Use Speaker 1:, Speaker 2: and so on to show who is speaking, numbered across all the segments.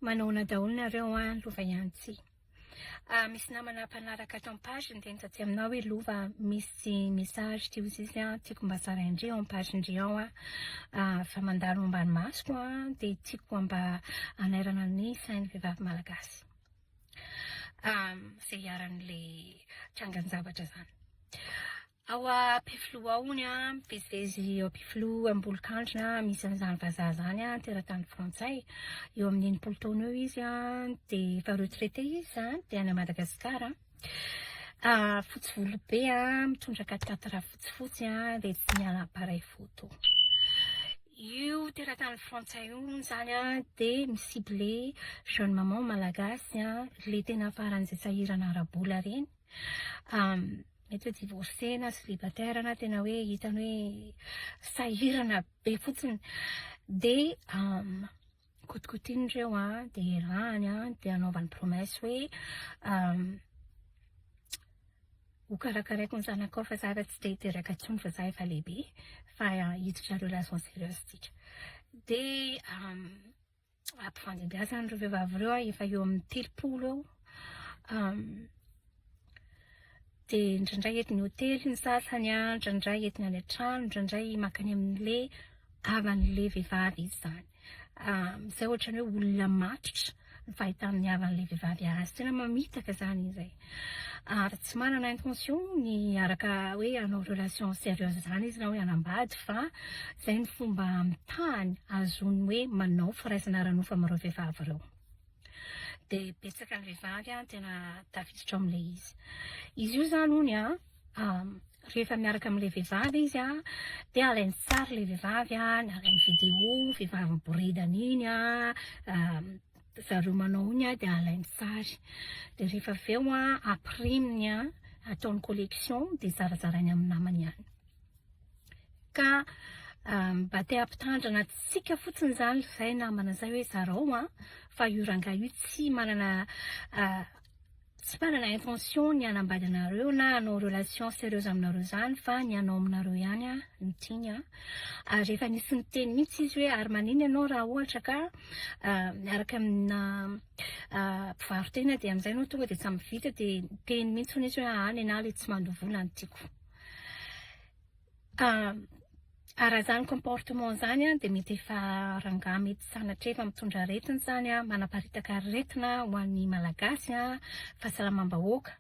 Speaker 1: Manaona daholo nareo an, lova ihany tsy. Ah misy namana mpanaraka ato am page niteny taty aminao hoe lova misy message ty ho zizy an, tiako mba zaraindry eo am page ndry ao an, fa mandalo ambany masoko an, dia tiako mba hanairana ny sain'ny vehivavy malagasy izay iharan'ilay trangan-javatra izany. Ao am-pifiloha ao hono an, mpizezy ao am-pifiloha am-bolokandrina misy an'izany vazaha izany an, teratany frantsay. Eo amin'ny enimpolo taona eo izy an, dia efa retraité izy izany, dia any Madagasikara. Fotsy volo be an, mitondra katakata fotsifotsy an, dia tsy miala appareil photo. Io teratany frantsay io hono izany an, dia mi-ciblé jeune maman malagasy an, ilay tena faran'izay sahirana ara-bola ireny. mety hoe divorcé na célibataire na tena hoe hitany hoe sahirana be fotsiny dia kotikotiany ireo an, dia erahany an, dia anaovany promesse hoe ho karakaraiko ny zanakao fa za efa tsy te hiteraka intsony fa za efa lehibe fa hiditra relations sérieuses tsika dia ampifandimbihasana ireo vehivavy ireo aho efa eo amin'ny telopolo eo dia indraindray eto ny hotely ny sasany an, indraindray eto ny any an-trano, indraindray mankany amin'ilay havan'ilay vehivavy izy izany. Izay ohatran'ny hoe olona matotra ny fahitana ny havan'ilay vehivavy azy. Tena mamitaka izany izy e. Ary tsy manana intention ny hiaraka hoe hanao relation serieuse izany izy na hoe hanambady fa izay ny fomba amitahany ahazoany hoe manao firaisana ara-nofo amin'ireo vehivavy ireo. Dia betsaka ny vehivavy tena tafiditra ao amin'ilay izy. Izy io izany hono an, rehefa miaraka amin'ilay vehivavy izy an, dia alainy sary ilay vehivavy an, alainy vidéo vehivavy miboridana iny an, zareo manao ny dia alainy sary dia rehefa avy eo a apriminy a ataony collection dia zarazarainy amin'ny namany ihany ka euh, mba te hampitandrina tsika fotsiny zany zay namana zay hoe zarao a fa io rangahy io tsy manana euh, Tsy manana intention ny hanambady anareo na hanao relation serieuse aminareo izany fa ny hanao aminareo ihany no tiany an! ary efa nisy niteny mihitsy izy hoe ary maninona ianao raha ohatra ka miaraka amina mpivaro-tena dia amin'izay ianao tonga dia samy vita dia niteny mihitsy hono izy hoe aa nenaha ilay tsy mandoa vola no tiako Raha izany comportement izany dia mety efa rangahy mety sanatria efa mitondra aretina izany an, manaparitaka aretina ho an'ny Malagasy an, fahasalamam-bahoaka.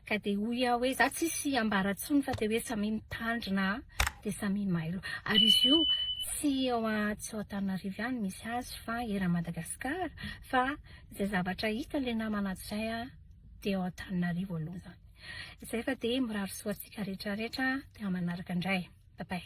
Speaker 1: Ka dia hoy aho hoe za tsisy ambara intsony fa dia hoe samia mitandrina dia samia mailo. Ary izy io tsy eo tsy ao Antananarivo ihany misy azy fa eran'i Madagasikara fa izay zavatra hita ilay namana ato izay an. dia ao Antananarivo aloha izany. Izay fa dia mirary soa antsika rehetra rehetra dia manaraka indray. Bye bye.